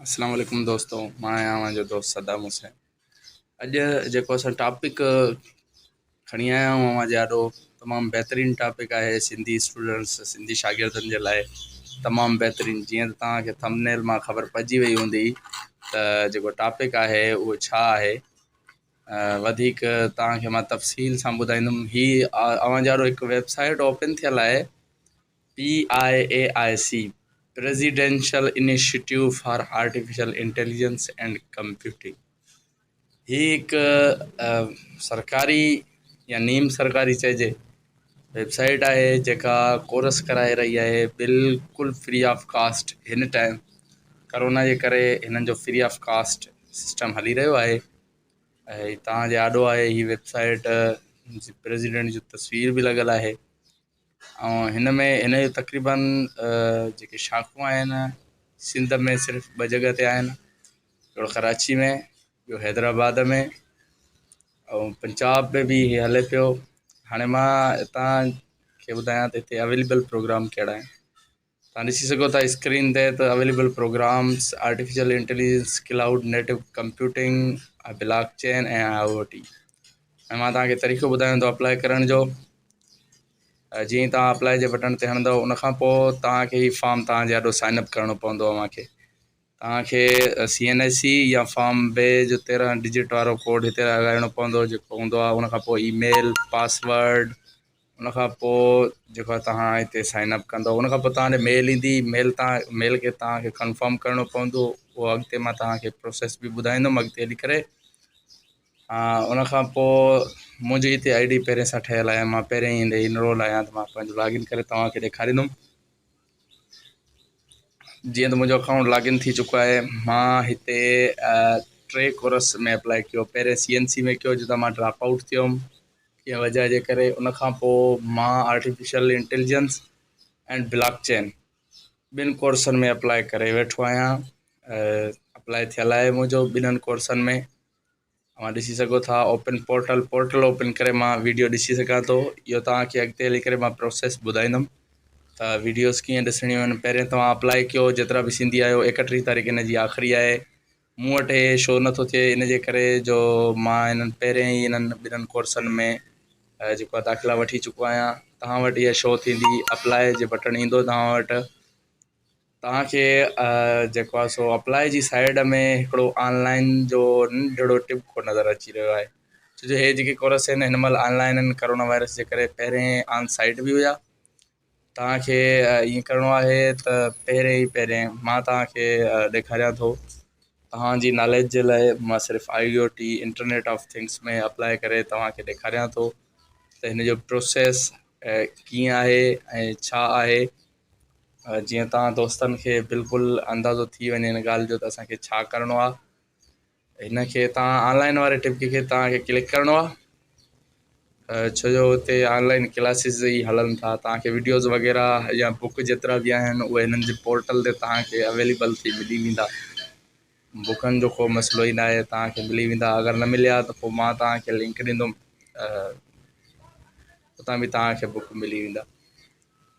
السلام عليڪم دوستو مان آهيان اوهان جو دوست صدام حسين اڄ جيڪو اسان ٽاپڪ کڻي آيا آهيون اوهان جي آڏو تمام بهترين ٽاپڪ آهي سنڌي اسٽوڊنٽس سنڌي شاگردن جي لاء تمام بهترين جيئن ته توهان کي ٿمنيل مان خبر پئجي وئي هوندي ته جيڪو ٽاپڪ آهي اهو ڇا آهي وڌيڪ توهان کي مان تفصيل سان ٻڌائيندم هي اوهان جي آڏو هڪ ويب سائيٽ اوپن ٿيل آهي P I A I C, presidential initiative for artificial intelligence and computing, هي هڪ سرڪاري يا نيم سرڪاري چئجي ويب سائيٽ آهي جيڪا ڪورس ڪرائي رهي آهي بلڪل فري آف ڪاسٽ هن ٽائيم ڪرونا جي ڪري هنن جو فري آف ڪاسٽ سسٽم هلي رهيو آهي هي توهان جي آڏو آهي هي ويب سائيٽ پريزيڊينٽ جي تصوير به لڳل آهي ۽ هن ۾ هن جون تقريبن جيڪي شاخون آهن سنڌ ۾ صرف ٻه جڳه تي آهن هڪڙو ڪراچي ۾ ٻيو حيدرآباد ۾ ۽ پنجاب ۾ به هي هلي پيو هاڻي مان هتان کي ٻڌايان ته هتي اويليبل پروگرام ڪهڙا آهن توهان ڏسي سگهو ٿا اسڪرين تي ته available programmes artificial intelligence cloud native computing blockchain ۽ I O T ۽ مان توهان کي طريقو ٻڌايان ٿو اپلائي ڪرڻ جو جيئن توهان اپلائي جي بٽڻ تي هڻندو ان کان پوء توهان کي هي فارم توهان جي آڏو سائن اپ ڪرڻو پوندو اوهان کي توهان کي سي اين ايس سی يا فارم بي جو تيرهن ڊجٽ وارو ڪوڊ هتي لڳائڻو پوندو جيڪو هوندو آهي ان کان پوء اي ميل پاسورڊ ان کان پوء جيڪا توهان هتي سائن اپ ڪندو ان کان پوء توهان ڏي ميل ايندي ميل تان ميل کي توهان کي ڪنفرم ڪرڻو پوندو اهو اڳتي مان توهان کي پروسيس به ٻڌائيندم اڳتي هلي ڪري ان کان پوء منهنجي هتي آئي ڊي پهرين سان ٺهيل آهي مان پهرين هند انرول آهيان ته مان پنهنجو لاگ ان ڪري توهان کي ڏيکاريندم جيئن ته منهنجو اڪائونٽ لاگ ان ٿي چڪو آهي مان هتي ٽي ڪورس ۾ اپلائي ڪيو پهرين سي اين سي ۾ ڪيو جتان مان ڊراپ آئوٽ ٿيو هيم جنهن وجهه جي ڪري ان کان پوء مان آرٽيفيشل انٽيليجنس ۽ بلاڪ چين ٻن ڪورسن ۾ اپلاء ڪري ويٺو آهيان اپلاء ٿيل آهي منهنجو ٻنهن ڪورسن ۾ اوهان ڏسي سگهو ٿا اوپن پورٽل پورٽل اوپن ڪري مان ويڊيو ڏسي سگهان ٿو اهو توهانکي اڳتي هلي ڪري مان پروسيس ٻڌائيندم ته ويڊيوز ڪيئن ڏسڻيون آهن پهرين توهان اپلاء ڪيو جيترا به سنڌي آهيو ايڪٽيهه تاريخ هن جي آخري آهي مون وٽ هي شو نه ٿو ٿئي ان جي ڪري جو مان هنن پهرين ئي هنن ٻنهن ڪورسن ۾ جيڪو آهي داخلا وٺي چڪو آهيان توهان وٽ هيء شو ٿيندي اپلاء جي بٽڻ ايندو توهان وٽ توهان کي جيڪو آهي سو اپلاء جي سائيڊ ۾ هڪڙو آنلائن جو ننڍڙو ٽپ ڪو نظر اچي رهيو آهي ڇو جو هي جيڪي ڪورس آهن هن مهل آنلائن ڪورونا وائرس جي ڪري پهرين آن سائيٽ به هيا توهان کي ائين ڪرڻو آهي ته پهرين ئي پهرين مان توهان کي ڏيکاريان ٿو توهان جي ناليج جي لاء مان صرف I O T internet of things ۾ apply ڪري توهان کي ڏيکاريان ٿو ته هن جو پروسيس ڪيئن آهي ۽ ڇا آهي جيئن توهان دوستن کي بلڪل اندازو ٿي وڃي هن ڳالهه جو ته اسان کي ڇا ڪرڻو آهي هن کي توهان آن لائن واري ٽپڪي کي توهان کي ڪلڪ ڪرڻو آهي ڇو جو هتي آن لائن ڪلاسز ئي هلن ٿا توهان کي وڊيوز وغيره يا بوڪ جيترا به آهن اهي هنن جي پورٽل تي توهان کي اويليبل ٿي ملي ويندا بوڪن جو ڪو مسئلو ئي ناهي توهان کي ملي ويندا اگر نه مليا ته پوء مان توهان کي لنڪ ڏيندم اتان به توهان کي بوڪ ملي ويندا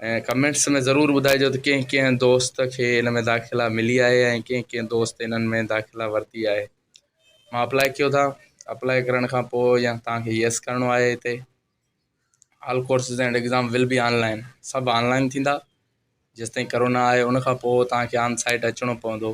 ۽ ڪمينٽس ۾ ضرور ٻڌائجو ته ڪنهن ڪنهن دوست کي ان ۾ داخلا ملي آهي ۽ ڪنهن ڪنهن دوست انهن ۾ داخلا ورتي آهي مان اپلاء ڪيو ٿا اپلاء ڪرڻ کان پوء يا توهان کي يس ڪرڻو آهي هتي all courses and exam will be online سڀ آن لائن ٿيندا جيستائين ڪرونا آهي ان کان پوء توهان کي آن سائيٽ اچڻو پوندو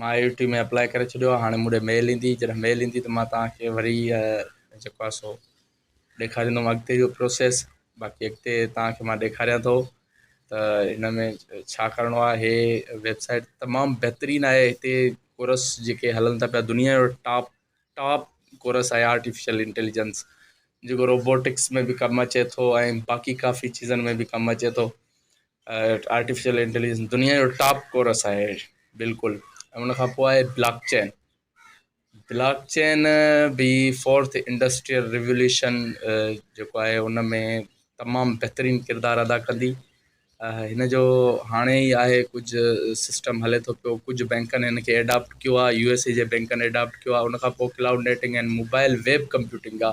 مان آء يو ٽي ۾ اپلائي ڪري ڇڏيو آهي هاڻي مون ڏي ميل ايندي جڏهن ميل ايندي ته مان توهان کي وري جيڪو آهي سو ڏيکاريندم اڳتي جو پروسيس باقي اڳتي توهان کي مان ڏيکاريان ٿو ته هن ۾ ڇا ڪرڻو آهي هي ويبسائيٽ تمام بهترين آهي هتي ڪورس جيڪي هلن ٿا پيا دنيا جو ٽاپ ٽاپ ڪورس آهي آرٽيفيشل انٽيليجنس جيڪو روبوٽڪس ۾ به ڪم اچي ٿو ۽ باقي ڪافي چيزن ۾ به ڪم اچي ٿو آرٽيفيشل انٽيليجنس دنيا جو ٽاپ ڪورس آهي بلڪل ۽ ان کان پوء آهي بلاڪ چين بلاڪ چين بي فورٿ انڊسٽريل ريوليوشن جيڪو آهي ان ۾ تمام بهترين ڪردار ادا ڪندي هن جو هاڻي ئي آهي ڪجهه سسٽم هلي ٿو پيو ڪجهه بينڪن هن کي ايڊاپٽ ڪيو آهي يو ايس اي جي بينڪن ايڊاپٽ ڪيو آهي ان کان پوء cloud netting ۽ mobile web computing جا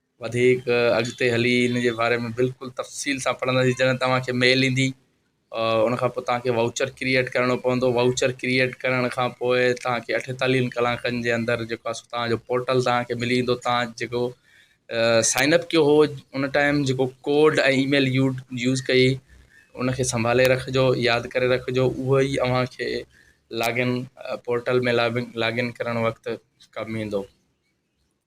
وڌيڪ اڳتي هلي ان جي باري ۾ بلڪل تفصيل سان پڙهنداسين جڏهن توهان کي ميل ايندي ان کان پوء توهان کي واوچر ڪريئيٽ ڪرڻو پوندو واوچر ڪريئيٽ ڪرڻ کان پوء توهان کي اٺيتاليهن ڪلاڪن جي اندر جيڪو آهي سو توهان جو پورٽل توهان کي ملي ويندو توهان جيڪو سائن اپ ڪيو هو ان ٽائيم جيڪو code ۽ email you use ڪئي ان کي سنڀالي رکجو ياد ڪري رکجو اهو ئي اوهان کي log in portal ۾ log in ڪرڻ وقت ڪم ايندو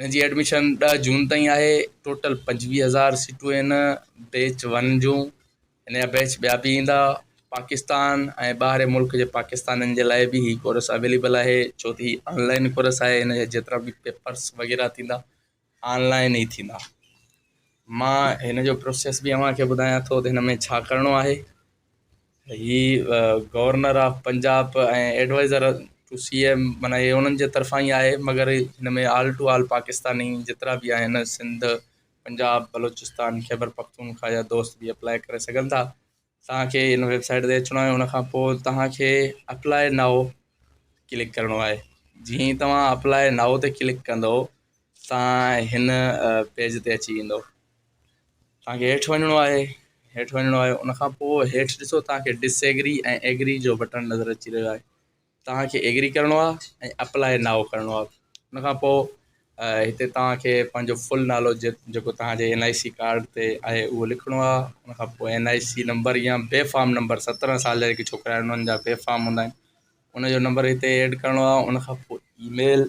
هن جي ايڊميشن ڏهه جون تائين آهي، ٽوٽل پنجويهه هزار سيٽون آهن بيچ ون جون، هن جا بيچ ٻيا به ايندا، پاڪستان ۽ ٻاهرين ملڪ جي پاڪستانين جي لاء به هي ڪورس اويليبل آهي ڇو ته هي آن لائين ڪورس آهي هن جا جيترا به پيپرس وغيره ٿيندا آن لائين ئي ٿيندا مان هن جو پروسيس به اوهان کي ٻڌايان ٿو ته هن ۾ ڇا ڪرڻو آهي. هي governor of Punjab ۽ advisor to C M معنيٰ هي انهن جي طرفان ئي آهي مگر هن ۾ آل ٽو آل پاڪستاني جيترا به آهن سنڌ پنجاب بلوچستان خيبر پختونخواه جا دوست به اپلاء ڪري سگهن ٿا توهان کي هن ويب سائيٽ تي اچڻو آهي ان کان پوء توهان کي اپلاء نائو ڪلڪ ڪرڻو آهي جيئن ئي توهان اپلاء نائو تي ڪلڪ ڪندو توهان هن پيج تي اچي ويندو توهان کي هيٺ وڃڻو آهي هيٺ وڃڻو آهي ان کان پوء هيٺ ڏسو توهان کي ڊس ايگري ۽ ايگري جو بٽڻ نظر اچي رهيو آهي توهان کي ايگري ڪرڻو آهي ۽ اپلائي ناو ڪرڻو آهي ان کان پوء هتي توهان کي پنهنجو فل نالو جيڪو توهان جي اين آء سي ڪارڊ تي آهي اهو لکڻو آهي ان کان پوء اين آء سي نمبر يا بي فارم نمبر سترهن سال جا جيڪي ڇوڪرا آهن انهن جا بي فارم هوندا آهن ان جو نمبر هتي ايڊ ڪرڻو آهي ان کان پوء اي ميل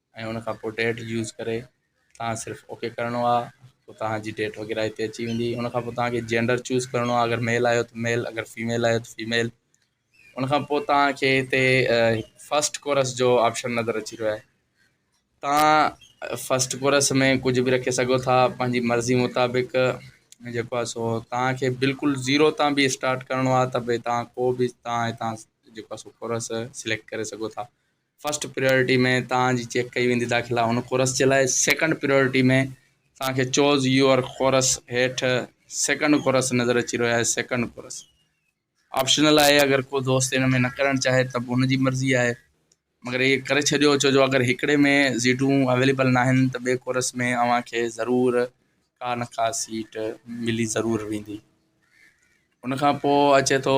۽ ان کان پوء ڊيٽ يوز ڪري تان صرف اوڪي ڪرڻو آ پوء تانجي ڊيٽ وغيره ھتي اچي ويندي ان کان پوء تانکي جينڊر چوز ڪرڻو آ اگر ميل آھيو ته ميل اگر فيميل آھيو ته فيميل ان کان پوء تانکي ھتي فسٽ ڪورس جو آپشن نظر اچي رھيو آھي تان فسٽ ڪورس ۾ ڪجھه به رکي سگھو ٿا پنھنجي مرضي مطابق جيڪو آ سو تانکي بلڪل زيرو تان به اسٽارٽ ڪرڻو آ ته به تان ڪو به تان ھتان جيڪو آ سو ڪورس سليڪٽ ڪري سگھو ٿا فرسٽ پريارٽي ۾ توهان جي چيڪ ڪئي ويندي داخلا هن ڪورس جي لاء سيڪنڊ پريارٽي ۾ توهان کي چوز يوئر ڪورس هيٺ سيڪنڊ ڪورس نظر اچي رهيو آهي سيڪنڊ ڪورس آپشنل آهي اگر ڪو دوست ان ۾ نه ڪرڻ چاهي ته به ان جي مرضي آهي مگر هي ڪري ڇڏيو ڇو جو اگر هڪڙي ۾ سيٽون اويليبل ناهن ته ٻي ڪورس ۾ اوهان کي ضرور ڪا نه ڪا سيٽ ملي ضرور ويندي ان کان پوء اچي ٿو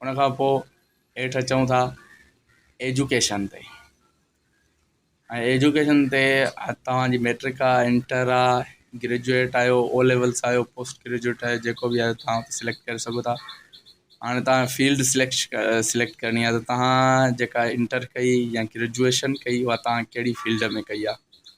ان کان پوء هيٺ اچون ٿا ايجوڪيشن تي ۽ ايجوڪيشن تي توهان جي ميٽرڪ آ انٽر آ گريجوئيٽ آهيو او ليولس آهيو پوسٽ گريجوئيٽ آهيو جيڪو بي آهيو توهان اتي سليڪٽ ڪري سگهو ٿا هاڻي توهان فيلڊ سليڪش سليڪٽ ڪرڻي آهي ته توهان جيڪا انٽر ڪئي يا گريجوئيشن ڪئي اها توهان ڪهڙي فيلڊ ۾ ڪئي آ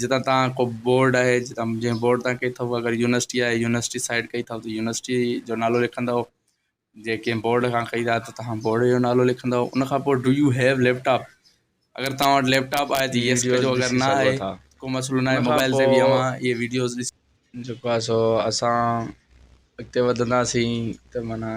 جتان تان ڪو بورڊ آهي جنهن بورڊ تان ڪئي اٿئو اگر يونيورسٽي آهي يونيورسٽي سائيڊ ڪئي اٿئو ته يونيورسٽي جو نالو لکندئو جي ڪنهن بورڊ کان ڪئي ٿا ته توهان بورڊ جو نالو لکندئو ان کان پوء do you have laptop اگر توهان وٽ ليپ ٽاپ آهي ته يس ڪجو اگر نه آهي ڪو مسئلو ناهي موبائل تي به اوهان اهي ويڊيوز ڏسي جيڪو آهي سو اسان اڳتي وڌنداسين ته معنيٰ.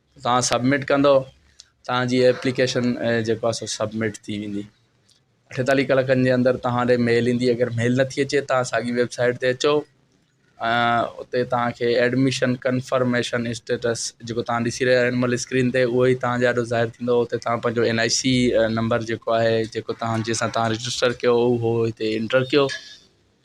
توهان سبمٽ ڪندو توهان جي ايپليڪيشن جيڪو آهي سو سبمٽ ٿي ويندي اٺيتاليهه ڪلاڪن جي اندر توهان ڏي ميل ايندي اگر ميل نه ٿي اچي توهان ساڳي ويبسائيٽ تي اچو اتي توهان کي ايڊميشن ڪنفرميشن اسٽيٽس جيڪو توهان ڏسي رهيا هن مهل اسڪرين تي اهو ئي توهان جي آڏو ظاهر ٿيندو اتي توهان پنهنجو اين آئي سي نمبر جيڪو آهي جيڪو توهان جنهن سان توهان رجسٽر ڪيو اهو هتي انٽر ڪيو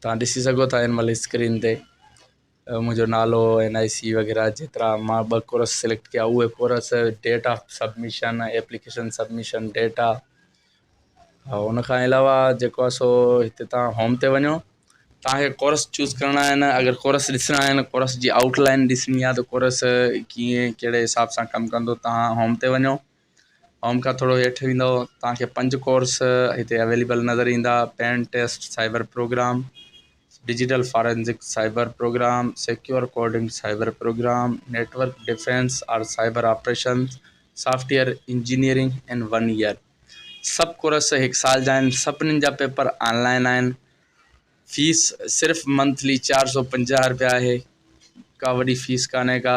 توهان ڏسي سگهو ٿا هن مهل اسڪرين تي منهنجو نالو اين آئي سي وغيره جيترا مان ٻه ڪورس سليڪٽ ڪيا اهي course date of submission application submission date آ ها ان کان علاوه جيڪو آ سو هتي تان هوم تي وڃو تانکي ڪورس چوز ڪرڻا آهن اگر ڪورس ڏسڻا آهن ڪورس جي آئوٽ لائن ڏسڻي آ ته ڪورس ڪيئن ڪهڙي حساب سان ڪم ڪندو تان هوم تي وڃو اوم کان ٿورو هيٺ ويندو توهان کي پنج ڪورس هتي اويليبل نظر ايندا pen test cyber programme digital forensic cyber programme secure coding cyber programme network defence R cyber operation software engineering in one year سڀ ڪورس هڪ سال جا آهن سڀني جا پيپر آن لائن آهن فيس صرف منٿلي چار سو پنجاهه روپيا آهي ڪا وڏي فيس ڪانهي ڪا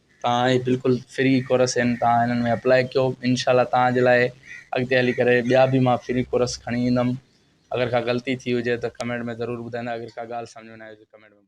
تان اهي بلڪل فري ڪورس آهن تان هنن ۾ اپلائي ڪيو انشاء الله تان جي لاء اڳتي هلي ڪري ٻيا به مان فري ڪورس کڻي ايندم اگر ڪا غلطي ٿي هجي ته ڪمينٽ ۾ ضرور ٻڌائيندا اگر ڪا ڳالهه سمجهه ۾ نه آئي هجي ڪمينٽ ۾ ٻڌائيندا.